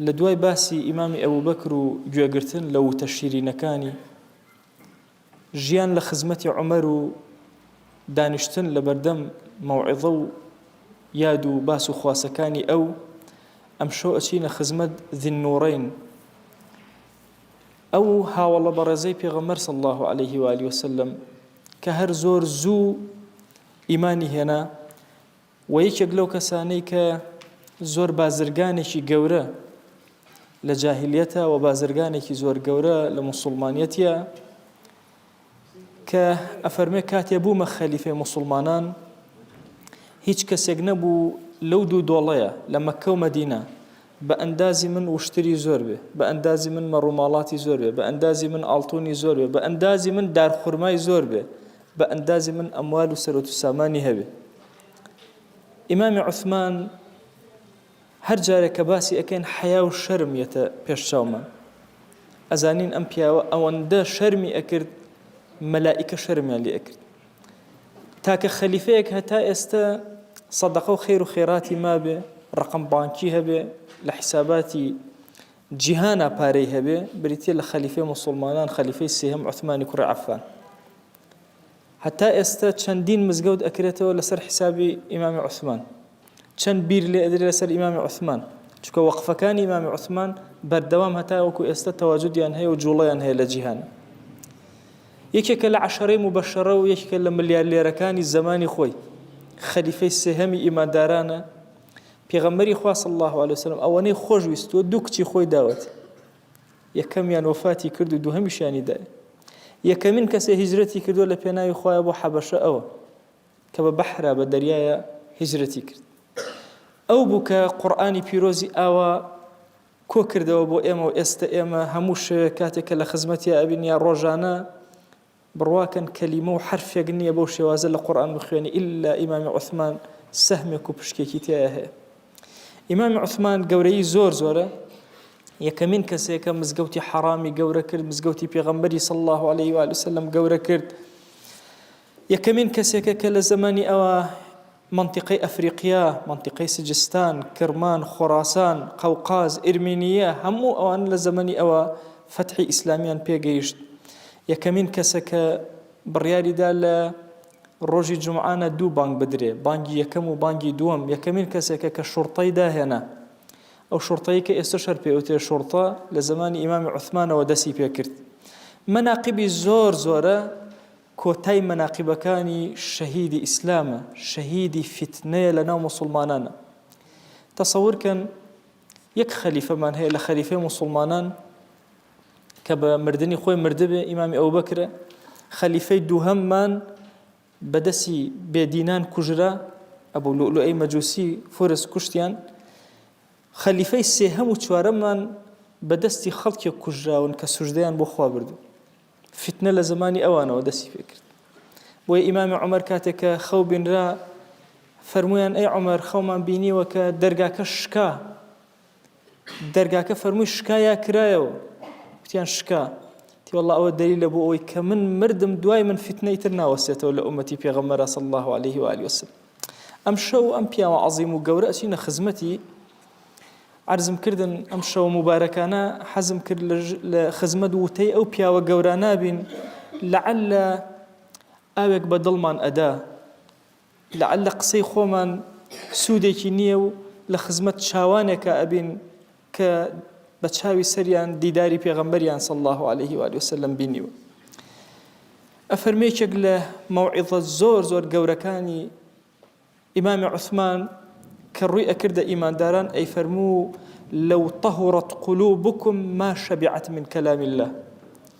لە دوای باسی ئیمامی ئەبوبەکر و گوێگرتن لە ووتە شیرینەکانی، ژیان لە خزمەتی عومەر و دانیشتن لە بەردەم مەوعیزە و یاد و باس و خواسەکانی ئەو، ئەمشەو ئەچینە خزمەت ذی النورین، ئەو هاوەڵە بەڕێزەی پێغەمبەر صلی اللە علیه و آله وسلم کە هەر زۆر زوو ئیمانی هێنا، وە یەکێک لەو کەسانەی کە زۆر بازرگانێکی گەورە لە جاهلیەتە وە بازرگانێکی زۆر گەورە لە موسڵمانەتە کە ئەفەرمێ کاتێ بوومە خەلیفێ موسڵمانان هیچ کەسێک نەبوو لەو دوو دۆڵەیە لە مەکە و مەدینە بە ئەندازی من وشتری زۆر بێ بە ئەندازی من مەڕووماڵاتی زۆر بێ بە ئەندازی من ئاڵتونی زۆر بێ بە ئەندازی من دارخورمای زۆر بێ بە ئەندازی من ئەموال و سەرۆت و سامانی هەبێ ئیمامی عوسمان هەر جارێک کە باسی ئەکەین حەیا و شەرم یەتە پێش چاومان ئەزانین ئەم پیاوە ئەوەندە شەرمی ئەکرد مەلائیکە شەرمیان لێ ئەکرد تاکە خەلیفەیەک هەتا ئێستا سەدەقە و خێر و خێراتی مابێ ڕقم بانکی هەبێ لە حیساباتی جیهانا پارەی هەبێ بریتە لە خەلیفەی مسلمانان خەلیفەی سێهم عثمانی کوڕی عفان هەتا ئێستا چەندین مزگەوت ئەکرێتەوە لەسەر حیسابی ئیمامی عوسمان چەند بیر لێ ئەدرێ لەسەر ئیمامی عوسمان چونکە وەقفەکانی ئیمامی عوسمان بەردەوام هەتا وەکو ئێستا تەواجودیان هەیە و جوڵەیان هەیە لە جیهان یەکێکە لە عەشەرەی مبەشەرە و یەکێکە لە ملیارلێرەکانی زەمانی خۆی خەلیفەی سێهەمی ئیماندارانە پێغەمبەری خوا صلی الله علیه وسلم ئەوەنەی خۆش ویستووە دوو کچی خۆی داوەتی یەکەمیان وەفاتی کرد و دووهەمیشیانی دایە یەکەمین کەسێ هیجرەتی کردوە لە پێناوی خۆیان بۆ حەبەشە ئەوە کە بە بەحرا بە دەریایە هیجرەتی کرد ئەو بوو کە قورآانی پیرۆزی ئاوا کۆ کردەوە بۆ ئێمە و ئێستا ئێمە هەموو شەوێک کاتێک کە لە خزمەتی ئەبین یا ڕۆژانە بڕواکەن کەلیمە و حەرفێک نیە بەو شێوازە لە قورئان بخوێنی ئیللا ئیمامی عوسمان سەهمێک و پشکێکی تیایە هەیە ئیمامی عوسمان گەورەی زۆر زۆرە یەکەمین کەسێکە مزگەوتی حەرامی گەورە کرد مزگەوتی پێغەمبەری صلی الله عليه و سلم گەورە کرد یەکەمین کەسێکە کە لە زمانی ئەوە مەنتیقەی ئەفریقیا، مەنتیقەی سجستان، کرمان، خۆراسان، قەوقاز، ئیرمینییە، هەموو ئەوان لە زەمەنی ئەوە فەتحی ئیسلامییان پێ گەیشت. یەکەمین کەسە کە بڕیاری دا لە ڕۆژی جومعانە دوو بانگ بدرێ، بانگی یەکەم و بانگی دووەم، یەکەمین کەسێکە کە شوڕتەی داهێنا. ئەو شوڕتەی کە ئێستەش هەر پێی ئەوترێ شوڕتە، لە زەمانی ئیمامی عوسمانەوە دەستی پێ کرد. مەناقیبی زۆر زۆرە. کۆتای مەناقیبەکانی شەهیدی ئیسلامە شەهیدی فیتنەیە لەناو موسوڵمانانا تەسەور کەن یەک خەلیفەمان هەیە لە خەلیفەی موسوڵمانان کە بە مردنی خۆی مردبێ ئیمامی ئەو بکرە خەلیفەی دووهەممان بەدەسی بێدینان کوژرا ئەبوو لولو ئەی مەجووسی فرس کوشتیان خەلیفەی سێهەم و چوارەممان بەدەستی خەڵکێک کوژراون کە سوژدەیان بۆ خوا بردو فتنە لە زمانی ئەوانەوە دەستی پێکرد بۆیە ئیمامی عمر کاتێک کە خەو بینرا فەرمویان ئەی عمر خەومان بینیوە کە دەرگاکە شکا دەرگاکە فەرمووی شکا یا کرایەوە وتیان شکا تیوەڵ ئەوە دەری لە بۆ ئەوەی کە من مردم دوای من فتنەی تر ناوەسێتەوە لە ئومەتی پێغەمەرە سەڵ الله عليه وعالی وسلم ئەم شەو ئەم پیاوە عظیم و گەورە ئەچینە خزمەتی عەرزم کردن ئەم شەوە موبارەکانە حەزم کرد لە خزمەت وتەی ئەو پیاوە گەورانابین لەعلە ئاوێک بە دڵمان ئەدا لەعلە قسەی خۆمان سوودێکی نییە و لە خزمەت چاوانێکە ئەبین کە بە چاوی سەریان دیداری پێغەمبەریان سەڵ الله عليه و وسلم بینیوە ئەفەرمێکێک لە مەوعیزە زۆر زۆر گەورەکانی ئیمامی عوسمان کە ڕووی ئەکردە ئیمانداران ئەیفەرموو لەو طهرت قلوبکم ما شبعت من کلام اللە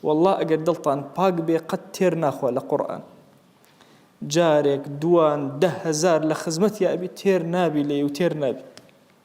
واللە ئەگەر دڵتان پاک بێ قەت تێر ناخوا لە قورئان جارێک دووان دە هەزار لە خزمەتیا ئەبی تێر نابی لێی و تێر نابی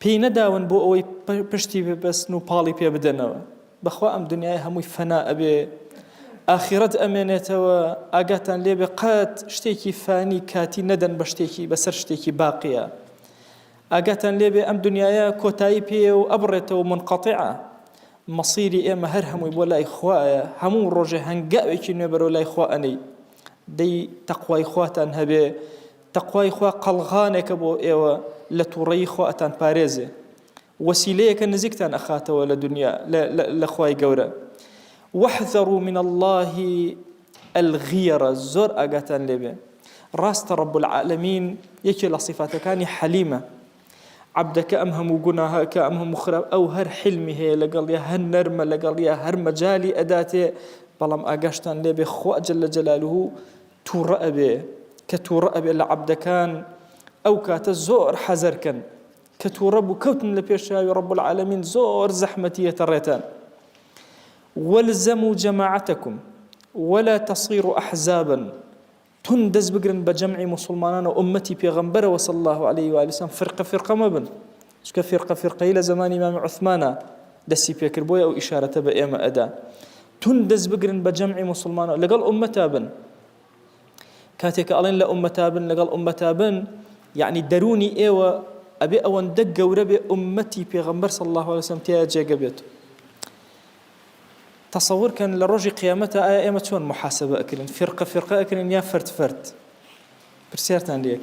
پێی نەداون بۆ ئەوەی پشتی ببەستن و پاڵی پێ بدەنەوە بەخوا ئەم دنیای هەمووی فەنا ئەبێ ئاخیرەت ئەمێنێتەوە ئاگاتان لێبێ قەت شتێکی فانی کاتی نەدەن بە شتێکی بەسەر شتێکی باقیە ئاگاتان لێبێ ئەم دنیاە کۆتایی پێ و ئەبڕێتەوە منقەتیعە مەسیری ئێمە هەر هەمووی بۆ لای خوایە هەموو ڕۆژێ هەنگاوێکی نوێبەرەوە لای خوا ئەنەی دەی تەقوای خواتان هەبێ تەقوای خوا قەڵغانێکە بۆ ئێوە لە تووڕەیی خوا ئەتانپارێزێ وەسیلەیەکە نزیکتان ئەخاتەوە لە دنیا لە خوای گەورە واحذروا من الله الغیرە زۆر ئاگاتان لێبێ ڕاستە ڕب العالمین یەکێ لە سیفاتەکانی حەلیمە عبدەکە ئەم هەموو گوناهە کە ئەم هەموو خراپ ئەو هەر حلمی هەیە لەگەڵ یا هەر نەرمە لەگەڵ یا هەر مەجای ئەداتێ بەڵام ئاگاشتان لێبێ خواجل لە جەلالوه توڕە ئەبێ کە توڕە ئەبێ لە عەبدەکان ئەو کاتە زۆر حەزەر کەن کە توڕە بوو کەوتن لە پێشاوی ڕب العالمین زۆر زەحمەتیەتە ڕێتان وەلزەم و جەماعەتەکم ولا تصير احزابا تون دەست بگرن بە جەمعی مسلمانان و ئومەتی پێغەمبەرەوە صلی الله عليه و سلم فرقە فرقە مەبن چونکە فیرقە فیرقەیی لە زەمانی مام عوثمانا دەستی پێکرد بۆیە ئەو ئیشارەتە بە ئێمە ئەدا تون دەست بگرن بە جەمعی مسلمانەوە لەگەڵ ئومەتا بن کاتێک ئەڵێن لە ئومەتا بن لەگەڵ ئومەتا بن یعنی دەرونی ئێوە ئەبێ ئەوەندە گەورە بێ ئومەتی پێغەمبەر صلی الله عليه وسلم تیا جێگە بێت تصور کەن لە ڕۆژی قیامەتە ئایا ئێمە چۆن محاسبە ئەکرن فرقە فرقە ئەکرن یا فرد فرد پرسیارتان لێک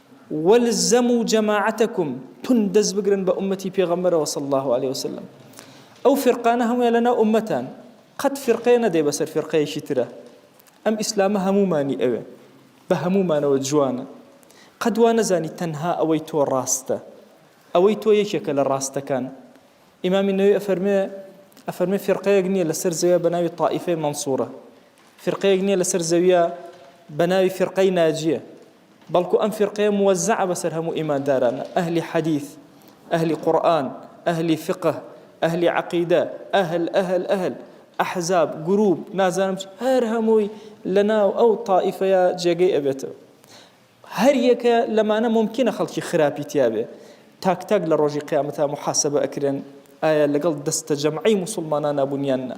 والزمو جماعتکم تون دەست بگرن بە ئومەتی پێغەمبەرەوە صلی اللە علیە وسلم ئەو فرقانە هەموویان لەناو ئومەتان قەت فرقەیە نەدەی بەسەر فرقەیەکی ترە ئەم ئیسلامە هەموومانی ئەوێ بە هەموومانەوە جوانە قەدوا نەزانی تەنها ئەوەی تۆ ڕاستە ئەوەی تۆ یەکێکە لە ڕاستەکان ئیمامی نەوی ئەفەرمێ ئەفەرمێ فرقەیەک نییە لەسەر زەویە بە ناوی تائیفەی منسوورە فرقەیەک نییە لەسەر زەویە بە ناوی فرقەی ناجیە بەڵکو ئەم فیرقەیە موەزەعە بەسەر هەموو ئیمانداران، ئەهلی حەدیث، ئەهلی قورئان، ئەهلی فقه، ئەهلی عەقیدە، ئەهل، ئەهل، ئەهل، ئەحزاب، گروپ، نازانم چ، هەر هەمووی لەناو ئەو تائیفەیە جێگەی ئەبێتەوە. هەر یەکە لەمانە مومکینە خەڵکی خراپی تیابێ. تاک تاک لە ڕۆژی قیامەتا موحاسەبە ئەکرێن ئایا لەگەڵ دەستەجەمعی موسوڵمانانا بوون یان نا.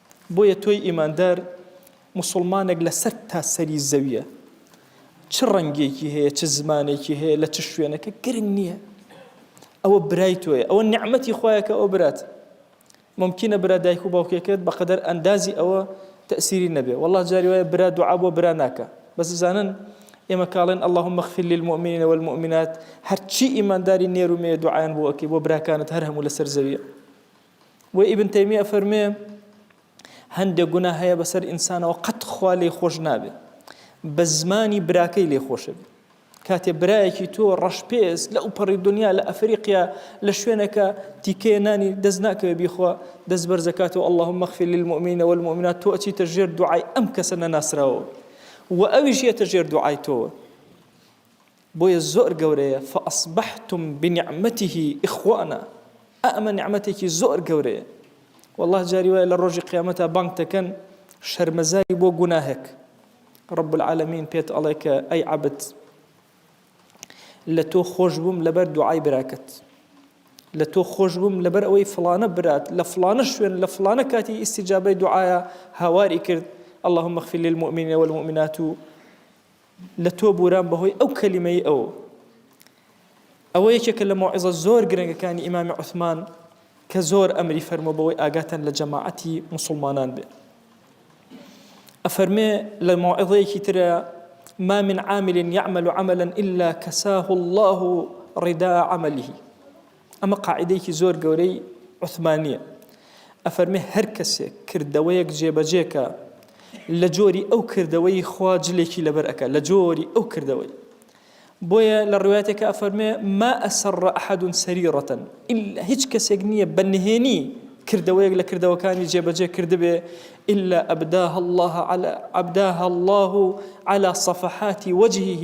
بۆیە تۆی ئیماندار موسوڵمانێک لە سەر تا سەری زەویە چ ڕەنگێکی هەیە چ زمانێکی هەیە لە چ شوێنەکە گرنگ نییە ئەوە برای تۆیە ئەوە نعمەتی خۆیەکە ئەو برات ممکنە برا دایک و باوکێکت بەقدر ئەندازی ئەوە تەسیری نەبێ والله جاری وایە برا دوعا بۆ برا ناکە بەس بزانن ئێمە کاڵێن اللهم اغفر للمؤمنین والمؤمنات هەرچی ئیمانداری نێر و مێ دوعایان بۆ ئەکەی بۆ براکانت هەر هەموو لەسەر زەویە وە ئیبن تەیمیە ئەفەرموێ، هەندێک گوناه هەیە بەسەر ئینسانەوە قەت خوا لێی خۆش نابێ بە زمانی براکەی لێ خۆشەبێ کاتێ برایەکی تۆ ڕەشپێست لە ئەوپەڕی دنیا لە ئەفریقیا لە شوێنەکە تیکەیە نانی دەست ناکەوێ بیخوا دەست بەرزەکاتەوە اللهم مەخفی للمؤمنینە والمؤمنات تۆ ئەچیتە ژێر دوعای ئەم کەسە نەناسراوە و ئەویش یەتە ژێر دوعای تۆوە بۆیە زۆر گەورەیە فاصبحتم بنعمته اخوانا ئا ئەمە نیعمەتێکی زۆر گەورەیە واللە جاری وایە لە ڕۆژی قیامەتا بانگ دەکەن شەرمەزاری بۆ گوناهێک رب العالمین پێت ئەڵێ کە ئەی عەبد لە تۆ خۆش بووم لەبەر دوعای براکەت لە تۆ خۆش بووم لەبەر ئەوەی فلانە برات لە فلانە شوێن لە فلانە کاتی ئیسیجابەی دوعاە هاواری کرد اللهم اغفر للمؤمنین والمؤمنات لە تۆ بورام بەهۆی ئەو کەلیمەی ئەو. ئەوە یەکێکە لە مەوعیزە زۆر گرنگەکانی ئیمامی عوثمان کە زۆر ئەمری فەرموە بەوەی ئاگاتان لە جەماعەتی مسلمانان بێ ئەفەرمێ لە مەوعیزەیەکی ترە ما من عامل يعمل عملا إلا كساه الله رداء عمله ئەمە قاعیدەیەکی زۆر گەورەی عوثمانییە، ئەفەرمێ هەر کەسێک کردەوەیەک جێبەجێ کا لە جۆری ئەو کردەوەی خوا جلێکی لەبەر ئەکا لە جۆری ئەو کردەوەی. بۆیە لە ڕوایەتێکا ئەفەرمێ ما اسر احد سریرە الا هیچ کەسێک نییە بە نهێنی کردەوەیەک لە کردەوەکانی جێبەجێ کردبێ الا ابداها الله على ابداها الله على صفحات وجهه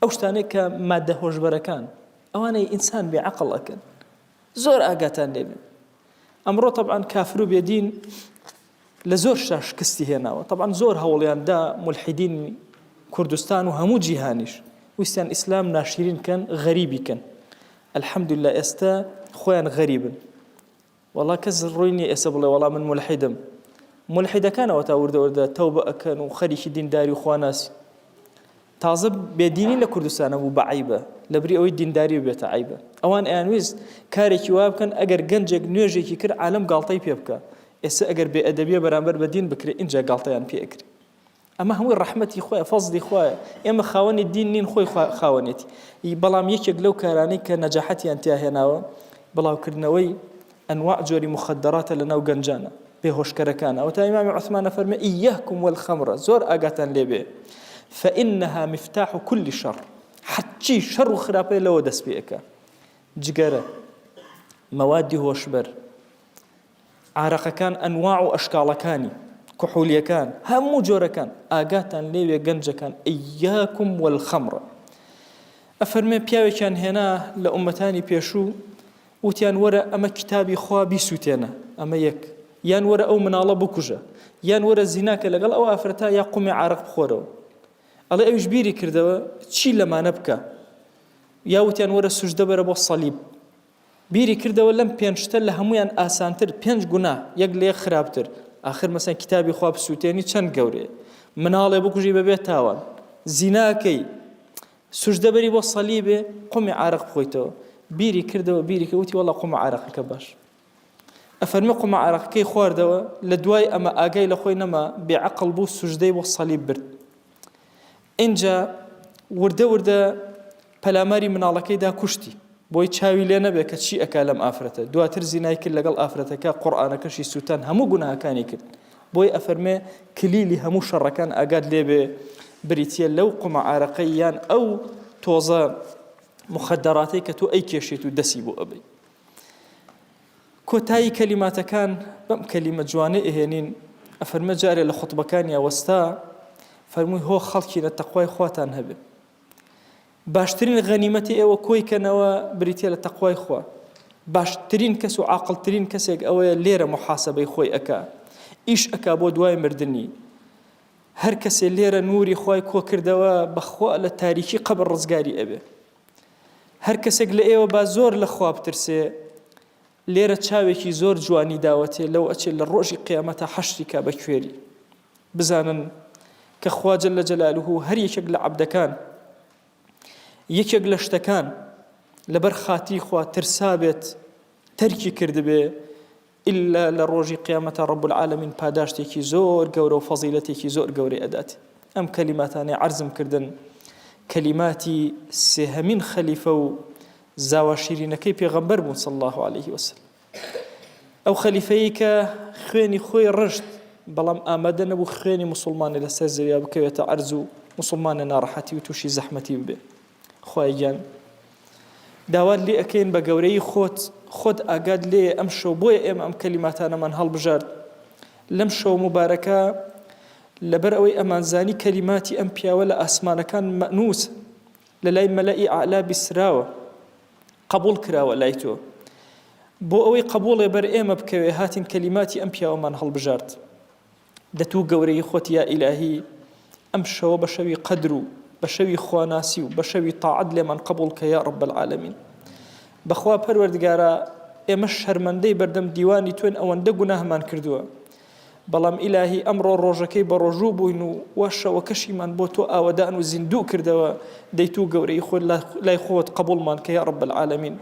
ئەو شتانەی کە ماددە هۆشبەرەکان ئەوانەی ئینسان بێ عقل ئەکەن زۆر ئاگاتان لێبن ئەمڕۆ طبعاان کافر و بێدین لە زۆر شا شکستی هێناوە طبعاان زۆر هەوڵیان دا ملحیدین کوردستان و هەموو جیهانیش ویستیان ئیسلام ناشیرین کەن غەریبی کەن الحمدللا ئێستا خۆیان غەریبن وەڵا کەس ڕووی نیە ئێستا بڵێ وەڵا من مولحیدم مولحیدەکان ئەوەتا وردە وردە تەوبە ئەکەن و خەریکی دینداری و خواناسی تازە بێدینی لە کوردستانە بوو بە عیبە لەبری ئەوەی دینداری و بێتە عیبە ئەوان ئەیانویست کارێکی وا بکەن ئەگەر گەنجێک نوێژێکی کرد عالم گاڵتەی پێ بکە ئێستا ئەگەر بێ ئەدەبیە بەرامبەر بە دین بکرێت ئینجا گاڵتەیان پێ ئەکرێت ئەمە هەمووی ڕەحمەتی خوایە فەزلی خوایە ئێمە خاوەنی دین نین خۆی خاوەنێتی ی بەڵام یەکێک لەو کارانەی کە نەجاحەتیان تیا هێناوە بڵاوکردنەوەی ئەنواع جۆری مخدراتە لە ناو گەنجانە بێهۆشکەرەکان ئەو تا ئیمامی عثمانە فەرمە ئیهکم والخمرە زۆر ئاگاتان لێبێ فإنها مفتاح كل شر حچی شەڕ و خراپەیە لەوە دەست پێەکە جگەرە مەوادی هۆشبەر عارەقەکان ئەنواع و ئەشکاڵەکانی، کحولیەکان هەموو جۆرەکان، ئاگاتان لێوێ گەنجەکان ایاکم والخمر ئەفەرموێ پیاوێکیان هێنا لە ئومەتانی پێشوو وتیان وەرە ئەمە کتابی خوا بیسوتێنە ئەمە یەک یان وەرە ئەو مناڵە بکوژە یان وەرە زیناکە لەگەڵ ئەو ئافرەتا یا قومی عرق بخۆرەوە ئەڵێ ئەوش بیری کردەوە چی لەمانە بکە یاوتیان وەرە سوژدە بەرە بۆ سەلیب بیری کردەوە لەم پێنج شتە لە هەموویان ئاسانتر پێنج گوناه یەک لە یەک خراپتر ئاخر مەسەن کتابی خوا بسووتێنی چەند گەورەیە مناڵێ بکوژی بەبێ تاوان زیناکەی سوژدە بەری بۆ سەلیبێ قومی عرق بخۆیتەوە بیری کردەوە بیری کە وتی وەڵا قومە عراقەکە باش ئەفەرمی قومە عراقەکەی خواردەوە لە دوای ئەمە ئاگای لە خۆی نەما بێعقل بوو سوژدەی بۆ سەلیب برد اینجا وردە وردە پەلاماری مناڵەکەی دا کوشتی بۆی چاوی لێ نەبێ کە چی ئەکا لەم ئافرەتە دواتر زینای کرد لەگەڵ ئافرەتەکە قورئانەکەشی سووتان هەموو گوناهەکانی کرد بۆی ئەفەرمێ کلیلی هەموو شەڕەکان ئاگات لێبێ بریتە لەو قومە عارەقەی یان ئەو تۆزە مخدراتەی کە تۆ ئەی کێشێت و دەسی بۆ ئەبی کۆتایی کەلیماتەکان بەم کەلیمە جوانێ ئەهێنین ئەفەرمە جارێ لە خطبەکانی ئەوەستا فەرمووی هۆ خەڵکینە تەخوای خواتان هەبێت باشترین غەنیمەتی ئێوە کۆی کەنەوە بریتیە لە تەقوای خوا باشترین کەس و عاقلترین کەسێک ئەوەیە لێرە محاسبەی خۆی ئەک ئیش ئەک بۆ دوای مردنی هەر کەسێ لێرە نوری خی کۆ کردەوە بەخوا لە تاریکی قەبڕ ڕزگاری ئەبێ هەر کەسێک لە ئێوە با زۆر لە خواب ترسێ لێرە چاوێکی زۆر جوانی داوەتێ لەو ئەچێ لە ڕۆژی قیامەتا حەشری کا بە کوێری بزانن کە خوا جل جلاله هەر یەکێک لە عەبدەکان یەکێک لە شتەکان لەبەر خاتی خوا ترسابێت تەرکی کردبێ ئللا لە ڕۆژی قیامەتە ڕب العالمین پاداشتێکی زۆر گەورە و فەزیلەتێکی زۆر گەورەی ئەدات ئەم کەلیماتانی عرضم کردن کەلیماتی سێهەمین خەلیفە و زاوا شیرینەکەی پێغەمبەر بوون صلی اللە علیە وسلم ئەو خەلیفەیی کە خوێنی خۆی ڕشت بەڵام ئامادە نەبوو خوێنی مسلمانە لەسەر زەویا بکەوێتە ئەرز و مسلمانە ناڕەحەتی و تووشی زەحمەتی ببێ خۆیان داوات لێ ئەەکەین بە گەورەی خۆت خۆت ئاگات لێ ئەم شەو بۆیە ئێمە ئەم کەلیماتانەمان هەڵبژارد لەم شەو مبارەکە لەبەر ئەوەی ئەمانزانی کەلیماتی ئەم پیاوە لە ئاسمانەکان مەنووس لەلای مەلەئی ئەعلا بیستراوە قەبوڵ کراوە لای تۆ بۆ ئەوەی قەبوڵێ بەر ئێمە بکەوێ هاتین کەلیماتی ئەم پیاوەمان هەڵبژارد دەتوو گەورەی خۆت یا ئیلاهی ئەم شەوە بە شەوی قەدر و بە شەوی خواناسی و بە شەوی تاعەت لێمان قەبوڵ کە یا ڕب العالمین بەخوا پەروەردگارە ئێمە شەرمەندەی بەردەم دیوانی توێن ئەوەندە گوناهمان کردووە بەڵام ئیلاهی ئەمڕۆ ڕۆژەکەی بەڕۆژوو بووین و وا شەوەکەشیمان بۆ تۆ ئاوەدان و زیندوو کردەوە دەی توو گەورەی خۆت لای خۆت قەبوڵمان کە یا رب العالمین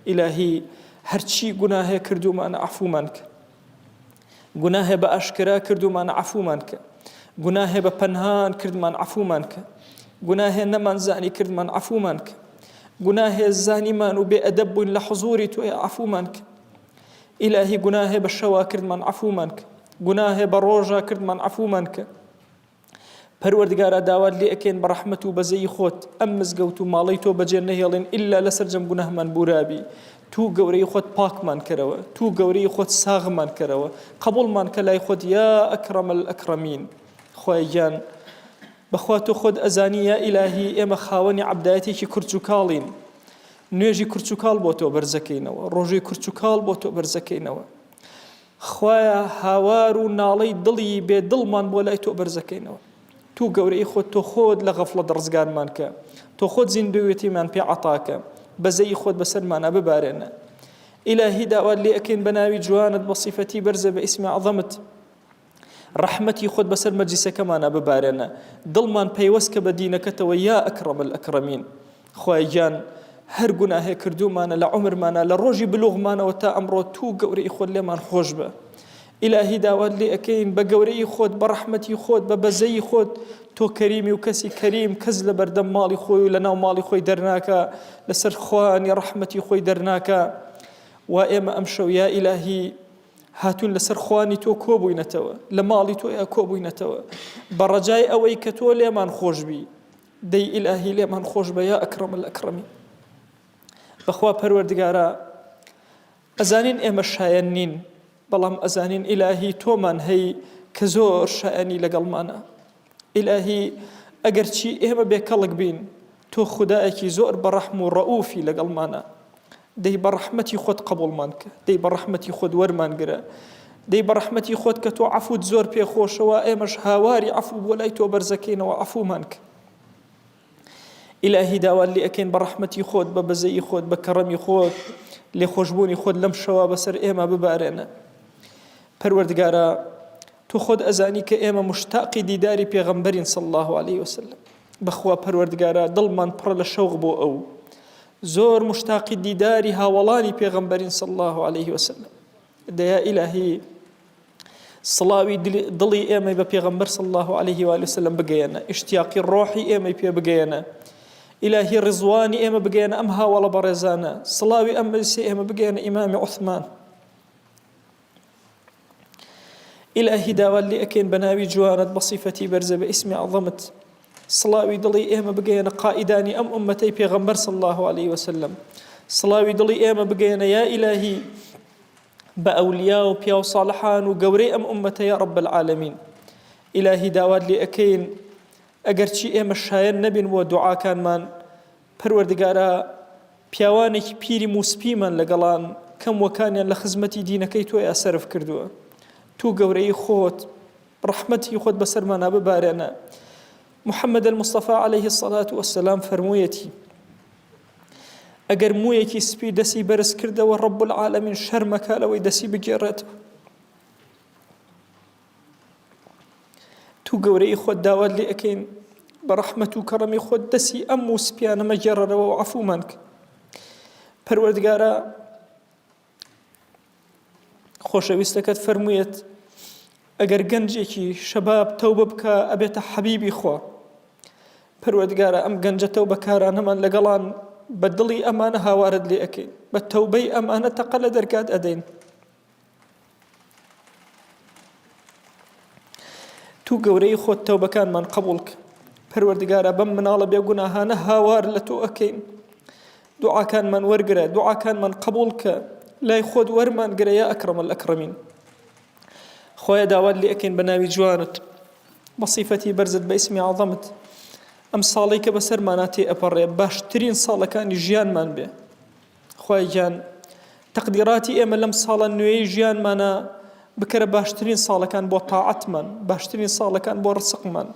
ئیلاهی هەرچی گوناهێ کردومانە عەفومان کە گوناهێ بە ئاشکرا کردومانە عەفومان کە گوناهێ بە پەنهان کردمان عەفومان کە گوناهێ نەمانزانی کردمان عەفومان کە گوناهێ زانیمان و بێ ئەدەب بووین لە حزوری تۆ یا عەفومان کە ئیلاهی گوناهێ بە شەوا کردمان عەفومان کە گوناهێ بە ڕۆژا کردمان عەفومان کە پەروەردگارا داوات لێ ئەکەین بە ڕەحمەت و بەزەی خۆت ئەم مزگەوت و ماڵی تۆ بەجێ نەهێڵێن ئللا لە سەرجەم گوناهمان بورابی تو گەورەی خۆت پاکمان کەرەوە تو گەورەی خۆت ساغمان کەرەوە قبولمان کە لای خۆت یا ئەکرەم ئەکرەمین خوای گیان بەخوا تۆ خۆت ئەزانی یا ئیلاهی ئێمە خاوەنی عەبدایەتێکی کورچ و کاڵین نوێژی کرچ و کاڵ بۆ تۆ بەرزەکەینەوە ڕۆژی کرچ و کاڵ بۆ تۆ بەرزەکەینەوە خوایە هاوار و ناڵەی دڵی بێ دڵمان بۆ لای تۆ بەرزەکەینەوە تو گەورەی خۆت تۆ خۆت لە غەفڵە دڕزگارمان کە تۆ خۆت زیندوێتیمان پێ عتاکە بەزەی خۆت بەسەرمانە ببارێنە ئیلاهی داوات لێ ئەکەین بە ناوی جوانت بە سیفەتی بەرزە بە ئیسمی عظەمت ڕەحمەتی خۆت بەسەر مەجلیسەکەمانا ببارێنە دڵمان پەیوەست کە بە دینەکەتەوە یا ئەکڕەم الئەکڕەمین خوای گیان هەر گوناهێ کردومانە لە عمرمانە لە ڕۆژی بلوغمانەوە تا ئەمڕۆ تو گەورەی خۆت لێمان خۆش بە ئیلاهی داوات لێ ئەکەین بە گەورەی خۆت بە ڕەحمەتی خۆت بە بەزەی خۆت تۆ کەریمی و کەسی کەریم کەس لە بەردەم ماڵی خۆی و لە ناو ماڵی خۆی دەرناکە لەسەر خوانی ڕەحمەتی خۆی دەرناکە و ئێمە ئەم شەویا ئیلاهی هاتوون لەسەر خوانی تۆ کۆبووینەتەوە، لە ماڵی تۆیا کۆبووینەتەوە، بە ڕەجای ئەوەی کە تۆ لێمان خۆش بی، دەی ئیلاهی لێمان خۆش بە یا ئەکرەم الئەکرەمین. بەخوا پەروەردگارا ئەزانین ئێمە شایەن نین، بەڵام ئەزانین ئیلاهی تۆمان هەی کە زۆر شایەنی لەگەڵمانە. ئیلاهی ئەگەر چی ئێمە بێ کەڵک بین تۆ خودایەکی زۆر بە ڕەحم و ڕەئوفی لەگەڵمانە دەی بە ڕەحمەتی خۆت قەبوڵمان کە دەی بە ڕەحمەتی خۆت وەرمان گرە دەی بە ڕەحمەتی خۆت کە تۆ عەفوت زۆر پێ خۆشەوە ئێمەش هاواری عەفو بۆ لای تۆ بەرزەکەینەوە عەفومان کە ئیلاهی داوات لێ ئەکەین بە ڕەحمەتی خۆت بە بەزەی خۆت بە کەڕەمی خۆت لێ خۆشببوونی خۆت لەم شەوە بەسەر ئێمە ببارێنە پەروەردگارە تۆ خۆت ئەزانی کە ئێمە مشتاقی دیداری پێغەمبەرین صلی اللە علیە وسلم بەخوا پەروەردگارا دڵمان پڕە لە شەوق بۆ ئەو زۆر مشتاقی دیداری هاوڵانی پێغەمبەرین صلی اللە علیه وسلم دەیا ئیلاهی سڵاوی دڵی ئێمەی بە پێغەمبەر صلی اللە علیه وسلم بگەیەنە ئشتیاقی ڕۆحی ئێمەی پێ بگەیەنە ئیلاهی ڕزوانی ئێمە بگەیەنە ئەم هاوڵە بەڕێزانە سڵاوی ئەم مەسی ئێمە بگەیەنە ئیمامی عثمان ئیلاهی داوات لێ ئەکەین بە ناوی جوانت بە صیفەتی بەرزە بە ئیسمی عەظەمت سڵاوی دڵی ئێمە بگەیەنە قائیدانی ئەم ئومەتەی پێغەمبەر صلی الله علیه وسلم سڵاوی دڵی ئێمە بگەیەنە یا ئیلاهی بە ئەولیا و پیاو صالحان و گەورەی ئەم ئومەتە یا رب العالمین ئیلاهی داوات لێ ئەکەین ئەگەرچی ئێمە شایەن نەبین بۆ دوعاکانمان پەروەردگارا پیاوانێکی پیری موسپیمان لەگەڵان کەم وەکانیان لە خزمەتی دینەکەی تۆیا سەرف کردووە توو گەورەی خۆت ڕەحمەتی خۆت بەسەرمانا ببارێنە محمد المصطفى عليه الصلاة والسلام فرموویەتی ئەگەر مویەکی سپی دەسی بەرز کردەوە ڕب العالمین شەرمەکە لەوەی دەسی بگێڕێتەوە تو گەورەیی خۆت داوات لێ ئەکەین بە ڕەحمەت و کەڕەمی خۆت دەسی ئەم و سپیانە مەگێڕەرەوە و عەفومان کە پەروەردگارە خۆشەویستەکەت فەرموویەت ئەگەر گەنجێکی شەباب تەوبە بکە ئەبێتە حەبیبی خوا پەروەردگارە ئەم گەنجە تەو بەکارانەمان لەگەڵان بە دڵی ئەمانە هاوارت لێ ئەەکەین بە تەوبەی ئەمانە تەقە لە دەرگات ئەدەین تو گەورەی خۆت تەوبەکانمان قبوڵ کە پەروەردگارە بەم مناڵە بێگوناهانە هاوار لە تۆ ئەکەین دوعاکانمان وەرگرە دوعاکانمان قبول کە لای خۆت وەرمان گرە یا ئەکرمە ئەکرمین خۆیان داوات لێ ئەکەین بە ناوی جوانت بە سیفەتی بەرزت بە ئیسمی عظەمت ئەم ساڵی کە بەسەرمانە تێ ئەپەڕێ باشترین ساڵەکانی ژیانمان بێ خوای گیان تەقدیراتی ئێمە لەم ساڵە نوێی ژیانمانە بکەرە باشترین ساڵەکان بۆ تاعەتمان باشترین ساڵەکان بۆ ڕسقمان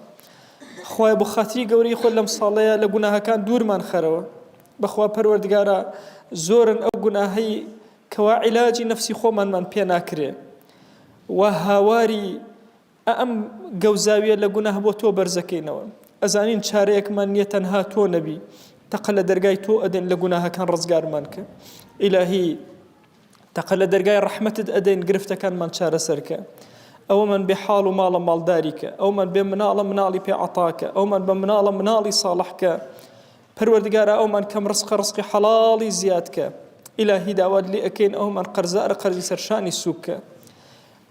خوای بۆ خاتری گەورەی خۆ لەم ساڵەیە لە گوناهەکان دوورمان خەرەوە بەخوا پەروەردگارە زۆرن ئەو گوناهەی کەوا عیلاجی نەفسی خۆمانمان پێ ناکرێ و هاواری ئە ئەم گەوزاویە لە گوناه بۆ تۆ بەرزەکەینەوە ئەزانین چارەیەکمان نیە تەنها تۆ نەبی تەقە لە دەرگای تۆ ئەدەن لە گوناهەکان ڕزگارمان کە ئیلاهی تەقە لە دەرگای ڕەحمەتت ئەدەین گرفتەکانمان چارەسەرکە ئەوەمان بێ حاڵ و ماڵە ماڵداریکە ئەومان بێ مناڵە مناڵی پێ عتاکە ئەومان بە مناڵە مناڵی ساڵحکە پەروەردگارە ئەومان کەم ڕسقە ڕسقی حەڵاڵی زیادکە ئیلاهی داوات لێ ئەەکەین ئەومان قەرزارە قەرزی سەرشانی سووکە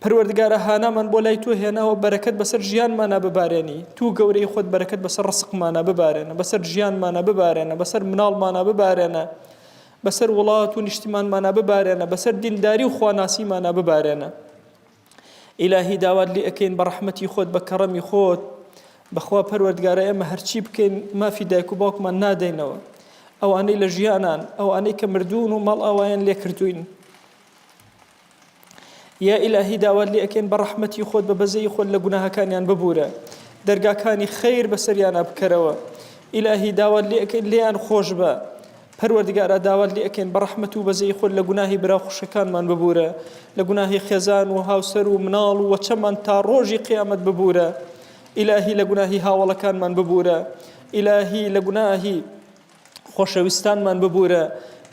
پەروەردگارا هانامان بۆ لای تۆ هێناوە بەرەکەت بەسەر ژیانمانا ببارێنی توو گەورەی خۆت بەرەکەت بەسەر ڕسقمانا ببارێنە بەسەر ژیانمانا ببارێنە بەسەر مناڵمانا ببارێنە بەسەر وڵات و نیشتیمانمانا ببارێنە بەسەر دینداری و خواناسیمانا ببارێنە ئیلاهی داوات لێ ئەکەین بە ڕەحمەتی خۆت بە کەڕەمی خۆت بەخوا پەروەردگارە ئێمە هەرچی بکەین مافی دایک و باوکمان نادەینەوە ئەوانەی لە ژیانان ئەوانەی کە مردوون و ماڵ ئاوایان لێکردوین یا ئیلاهی داوات لێ ئەکەین بە ڕەحمەتی خۆت بە بەزەی خۆت لە گوناهەکانیان ببورە دەرگاکانی خیر بەسەریانە بکەرەوە ئیلاهی داوات لێ ئەکەین لێیان خۆش بە پەروەردگارە داوات لێ ئەکەین بە ڕەحمەت و بەزەی خۆت لە گوناهی برا خوشەکانمان ببورە لە گوناهی خێزان و هاوسەر و مناڵ و وەچەمان تا ڕۆژی قیامەت ببورە ئیلاهی لە گوناهی هاوڵەکانمان ببورە ئیلاهی لە گوناهی خۆشەویستانمان ببورە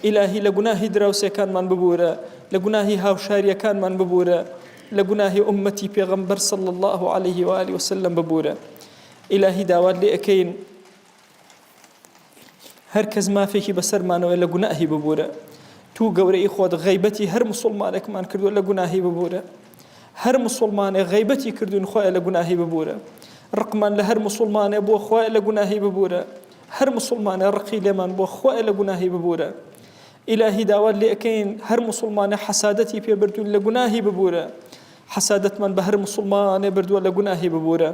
ئیلاهی لە گوناهی دراوسێکانمان ببورە لە گوناهی هاوشاریەکانمان ببورە لە گوناهی ئومەتی پێغەمبەر صلی الله عليه و آله وسلم ببورە ئیلاهی داوات لێ ئەکەین هەر کەس مافێکی بەسەرمانەوە لە گوناهی ببورە تو گەورەی خۆت غیبەتی هەر مسلمانێکمان کردو لە گوناهی ببورە هەر مسلمانێ غیبەتی کردوین خۆی لە گوناهی ببورە ڕقمان لە هەر مسلمانێ بۆ خۆی لە گوناهی ببورە هەر موسوڵمانە ڕقی لێمان بووە خوایە لە گوناهی ببورە ئیلاهی داوات لێ ئەکەین هەر موسوڵمانە حەسادەتی پێ بردوون لە گوناهی ببورە حەسادەتمان بە هەر موسوڵمانێ بردووە لە گوناهی ببورە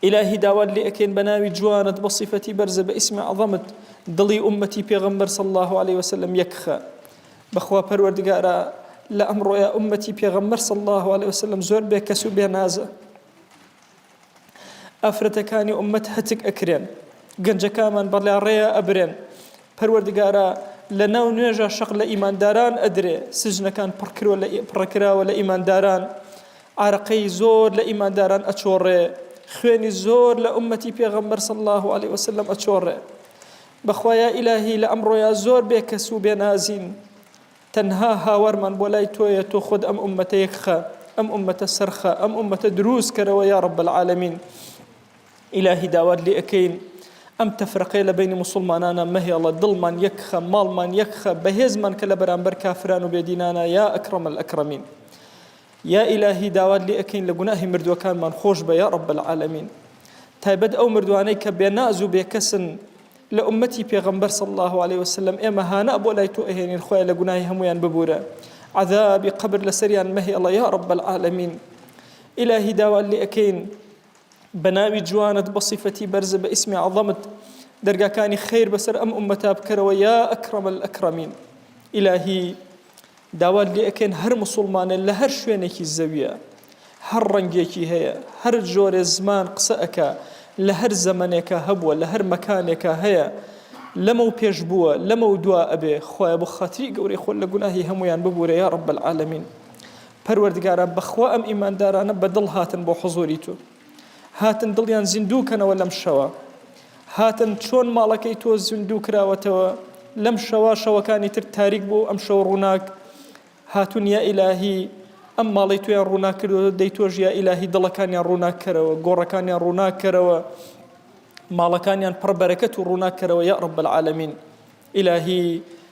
ئیلاهی داوات لێ ئەکەین بە ناوی جوانت بە صفەتی بەرزە بە ئیسمە عەظەمت دڵی ئومەتی پێغەمبەر صلی الله عليه وسلم یەکخە بەخوا پەروەردگارە لە ئەمڕۆیە ئومەتی پێغەمبەر صلی الله عليه وسلم زۆر بێ کەس و بێ نازە ئافرەتەکانی ئوممەت هەتک ئەکرێن گەنجەکامان بەڵێ ڕێە ئەبرێن پەروەردگارە لە ناو نوێژە شەق لە ئیمانداران ئەدرێ سجنەکان پڕکرۆ لە پڕکراوە لە ئیمانداران عراقەی زۆر لە ئیمانداران ئەچۆڕێ خوێنی زۆر لە ئومەتی پێغەمبەر صلی الله عليه وسلم ئەچۆڕێ بەخوایە ئیلاهی لە ئەمڕۆیا زۆر بێکەس و بێنازین تەنها هاوارمان بۆ لای تۆیە تۆ خۆت ئەم ئومەتە یەکخە ئەم ئومەتە سەرخە ئەم ئومەتە دروست کەرەوە یا رب العالمین ئیلاهی داوات لێ ئەەکەین ئەم تەفرەقەیە لە بینی مسلمانانە مەهێڵە دڵمان یەکخە ماڵمان یەکخە بەهێزمان کە لە بەرامبەر کافران و بێدینانە یا ئەکرم الأکرمین یا ئیلاهی داوات لێ ئەەکەین لە گوناهی مردووەکانمان خۆش بە یا رب العالمین تایبەت ئەو مردوانەی کە بێناز و بێکەسن لە ئوممەتی پێغەمبەر صلی اللە علیە وسلم ئێمە هانە بۆ لای تۆ ئەهێنین خوایە لە گوناهی هەموویان ببورە عەذابی قەبر لەسەریان مەهێڵە یا رب العالمین ئیلاهی داوات لێ ئەکەین بە ناوی جوانت بە صفەتی بەرز بە ئیسمی عەظەمت دەرگاکانی خیر بەسەر ئەم ئومەتا بکەرەوە یا ئەکرەم الئەکرەمین ئیلاهی داوات لێ ئەکەین هەر موسوڵمانێ لە هەر شوێنێکی زەویە هەر ڕەنگێکی هەیە هەر جۆرێ زمان قسە ئەکا لە هەر زەمەنێکا هەبووە لە هەر مەکانێکا هەیە لەمەو پێش بووە لەمەو دوا ئەبێ خوایە بۆ خاتری گەورەی خۆت لە گوناهی هەموویان ببورە یا رب العالمین پەروەردگارا بەخوا ئەم ئیماندارانە بە دڵ هاتن بۆ حزوری تو. هاتن دڵیان زیندوو کەنەوە لەم شەوە هاتن چۆن ماڵەکەی تۆ زیندوو کراوەتەوە لەم شەوە شەوەکانی تر تاریک بوو ئەم شەوە ڕووناک هاتون یا ئیلاهی ئەم ماڵی تویان ڕووناکردەوە دەی تۆش یا ئیلاهی دڵەکانیان ڕووناکەرەوە گۆڕەکانیان ڕووناکەرەوە ماڵەکانیان پڕبەرەکەت و ڕووناکەرەوە یا ڕب العالمین ئیلاهی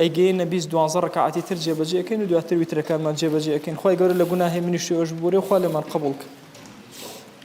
ئەیگەیەنە بیست دوانزە ڕکاعەتی تر جێبەجێ ئەکەین و دواتر ویترەکانمان جێبەجێ ئەکەین خوای گەورە لە گوناهی منیش تۆیش ببورێ و خوا لێمان قبوڵ کە.